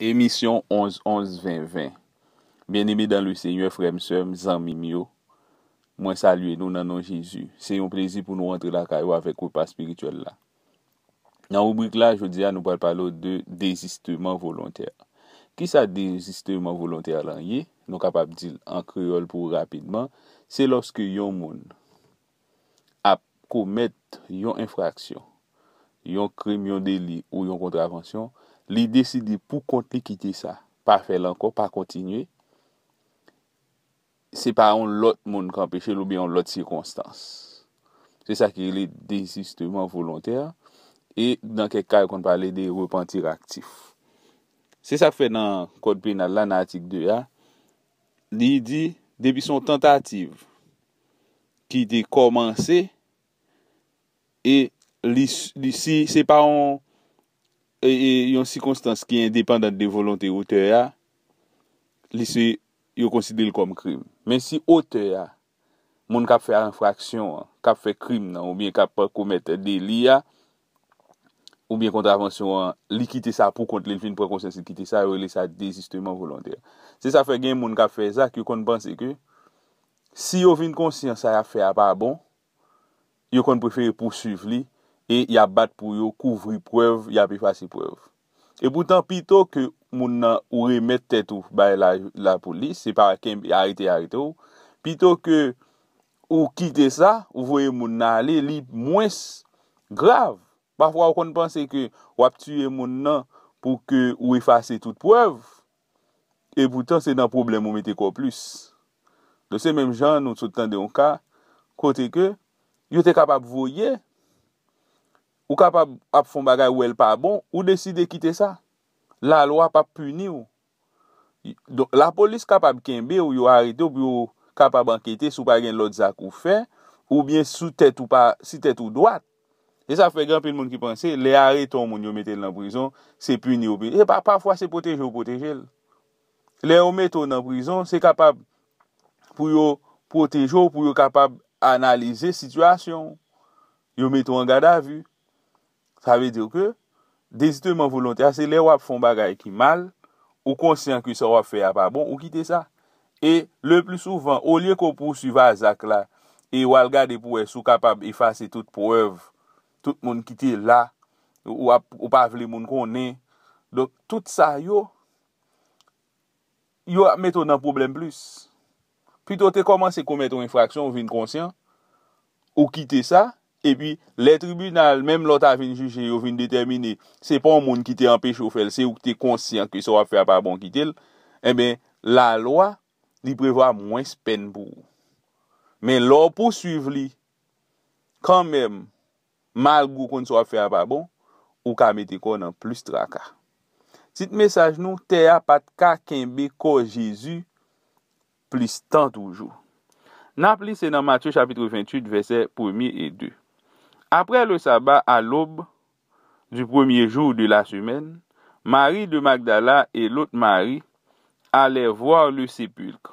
Emisyon 11 11 20 20 Byeneme dan le Senyè, frè m, sè m, zanmi m yo, mwen salye nou nan non Jezi. Se yon plezi pou nou antre lakay ou avèk repa espirityèl la. Nan ribrik la, jodi a nou pral pale ou de dezisteman volontè. Kisa dezisteman volontè lan ye? Nou kapab di l an kreyòl pou ou rapidman, se lòske yon moun. ap komèt yon enfraksyon, yon krim, yon deli ou yon kontravansyon, li deside pou kont li kite sa, pa fè l ankò, pa kontinye, se pa yon lòt moun k anpeche l oubyen yon lòt sikonstans. Se sa ki rele dezisteman volontè e nan kèk ka yo konn pale de repantir aktif. Se sa k fè nan kòd penal la nan atik 2 a, li di depi se yon tantativ ki te kòmanse e si se pa yon sikonstans ki endepandan de volonte otè a, li se yo konsidere l kòm krim. Men si otè a, moun k ap fè enfraksyon an, k ap fè krim nan oubyen k ap komèt deli a oubyen kontravansyon an, li kite sa pou kont li, li fin pran konsyans li kite sa, yo rele sa dezisteman volontè. Se sa k fè gen moun k ap fè zak yo konn panse ke Si yo vin konsyan sa y ap fè a pa bon, yo konn prefere pousuiv li e y ap bat pou yo kouvri prèv, y ap efase prèv. Epoutan, pito ke moun nan ou remèt tèt ou bay lapolis, se pa kenbe, arete, arete w, pito ke ou kite sa, ou voye moun nan ale, li mwens grav. Pafwa ou konn panse ke w ap tiye moun nan pou ke ou efase tout prèv, e poutan se nan pwoblèm ou mete kò w plis. Donk se menm jan an nou sot tande yon ka kote ke yo te kapab voye ou kapab ap fè yon bagay ou wè l pa bon ou deside kite sa lalwa p ap pini w donk lapolis kapab kenbe w yo arete w pou yo kapab ankete si w pa gen lòt zak ou fè oubyen si tèt ou pa si tèt ou dwat. E sa fè gen anpil moun ki panse lè arete yon moun yo mete l nan prizon, se pini yo pini. E pa pafwa se pwoteje yo pwoteje l. Lè yo mete w nan prizon, se kapab pou yo pwoteje w, pou yo kapab analize sitiyasyon w. Yo mete w an gadavi. Sa vle di ke Dezisneman volontè a se lè wap fè yon bagay ki mal, ou konsyan ke sa wap fè a pa bon, ou kite sa. E le pli souvan, olye ke w pousuiv a zak la e w al gade pou wè si w kapab efase tout prèv, tout moun ki te la, ou pa vle moun konnen, donk tout sa yo, Yo ap mete w nan pwoblèm plis. Pito w te kòmanse komèt yon enfraksyon, ou vin konsyan, ou kite sa, epi lè tribinal, menm lè w ta vin jije, yo vin detèmine se pa yon moun ki te anpeche w fè l, se ou ki te konsyan ke sa w ap fè a pa bon, kite l, enben, lalwa, li prevwa mwens pèn pou ou. Men lè w pouswiv li kanmenm, Malgre ou konn sa w ap fè a pa bon, ou ka mete kò w nan plis traka. Tit mesaj nou, Tè a pa t ka kenbe kò Jezi plis tan toujou. N ap li se nan Matye chapitre 28 vèsè premye e de, Apre le saba a lòb du premye jou de la semèn, Mari de Magdala e lòt Mari alè vwar le sepilkr.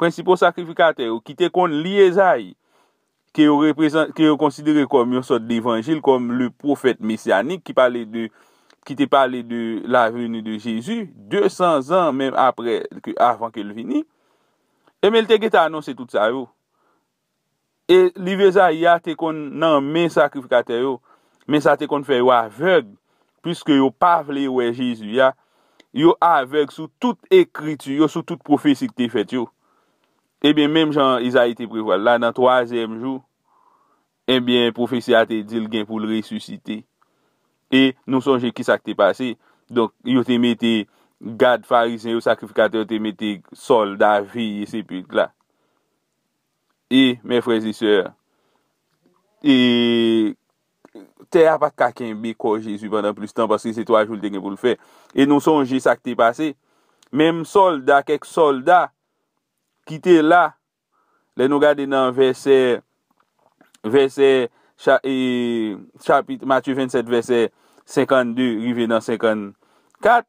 Prensipal sakrifikatè yo, ki te konn li Ezayi, ke yo reprezan, ke yo konsidere kòm yon sòt levanjil, kòm le pwofèt mesyanik ki pale de, ki te pale de la veni de Jezi, 200 zan menm apre, ke avan ke l vini. Ebyen, l te gentan anonse tout sa yo. E liv Ezayi a te konn nan men sakrifikatè yo, men sa te konn fè yo avèg, piske yo pa vle wè Jezi a, yo avèg sou tout ekriti yo, sou tout pwofesi ki te fèt yo. Ebyen, menm jan Ezayi te prevwa l la, nan twazyèm jou, ebyen, pwofesi a te di l gen pou l resisite. E nou sonje ki sa ki te pase. Donk, yo te mete gad Farizyen yo, sakrifikatè yo te mete sòlda veye sepilk la. E, mè frèz e sè, e, tè a pa t ka kenbe kò Jezi pandan plis tan, paske se twa jou l te gen pou l fè. E nou sonje sa k te pase, menm sòlda, kèk sòlda ki te la, lè nou gade nan vèsè, vèsè, cha, e, chapit Matye 27, vèsè 52 rive nan 54,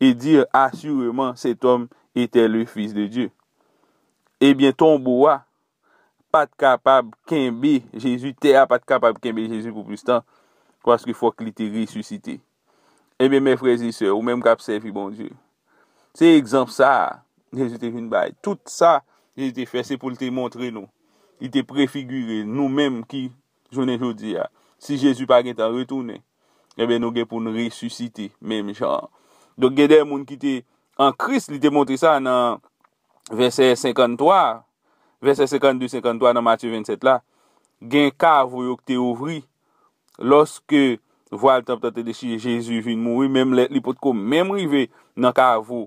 et dire assurément cet homme etait le Fils de Dieu. Ebyen tonbo a pat kapab kenbe Jezi, tè a pat kapab kenbe Jezi pou plis tan, paske fòk li te resisite. Ebyen mè frè e sè, ou menm kap sèvi Bondye, se egzanp sa a Jezi te vin bay. Tout sa Jezi te fè se pou l te montre nou, li te prefigire nou menm ki jounen jodi a, si Jezi pa gen tan retounen, enben nou gen pou n resisite menm jan an. Donk gen de moun ki te an Kris, li te montre sa nan vèsè 53 a, vèsè 52, 53 nan Matye 27 la, gen kavo yo ki te ouvri, lòske vwal tanp lan te dechire, Jezi vin mouri, menm lèt li potko menm rive nan kavo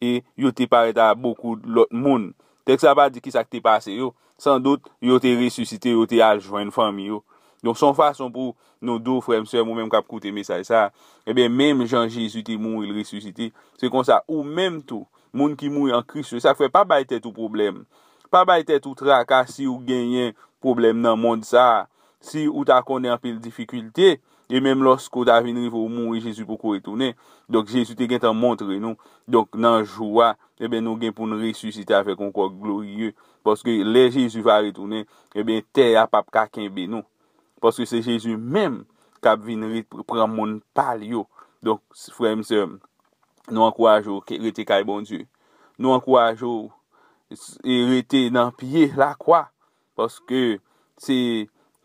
e yo te parèt a bokou lòt moun. Tèks la pa di kisa ki te pase yo. San dout, yo te resisite, yo te al jwenn fanmi yo. Donk, se yon fason pou nou di w, frè m, sè m, ou menm k ap koute mesaj sa a, enben, menm jan Jezi te mouri, l resisite, se konsa, ou menm tou, moun ki mouri an Kris yo. Se sa k fè, pa bay tèt ou pwoblèm. Pa bay tèt ou traka si ou genyen pwoblèm nan mond sa a, si ou ta konnen anpil difikilte. E menm lòske ou ta vin rive ou mouri, Jezi poko retounen. Donk, Jezi te gentan montre nou. Donk, nan jou a, enben, nou gen pou n resisite avèk yon kò gloriye. Paske, lè Jezi va retounen, enben, tè a pap ka kenbe nou. Paske, se Jezi menm k ap vin pran moun pa l yo. Donk, frè m, sè m, nou ankouraje w rete kay Bondye. Nou ankouraje w rete nan pye lakwa. Paske se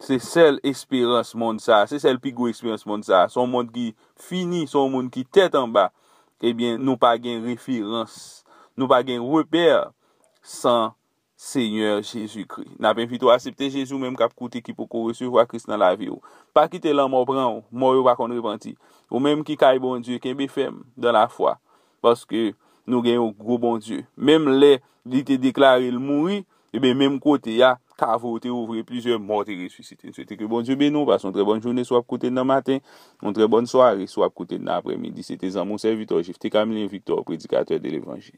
se sèl esperans mond sa a, se sèl pi gwo esperans mond sa a. Se yon mond ki fini, se yon mond ki tèt anba. Ebyen, nou pa gen referans, nou pa gen repè san Senyè Jezikri. N ap envite w asepte Jezi, ou menm k ap koute ki poko resevwa Kris nan lavi w. Pa kite lanmò pran w, mò yo pa konn repanti. Ou menm ki kay Bondye, kenbe fèm dan lafwa. paske nou gen yon gwo Bondye. Menm lè li te deklare l mouri, eben menm kote a, kavo yo te ouvri, plizyè mò te resisite. M swete ke Bondye beni w, pase yon trè bòn jounen si w ap koute n nan maten, yon trè bòn sware si w ap koute n nan aprèmidi. Se te zanmi w sèvitè w Jephté Camilien Victor, predikatè de levanjil.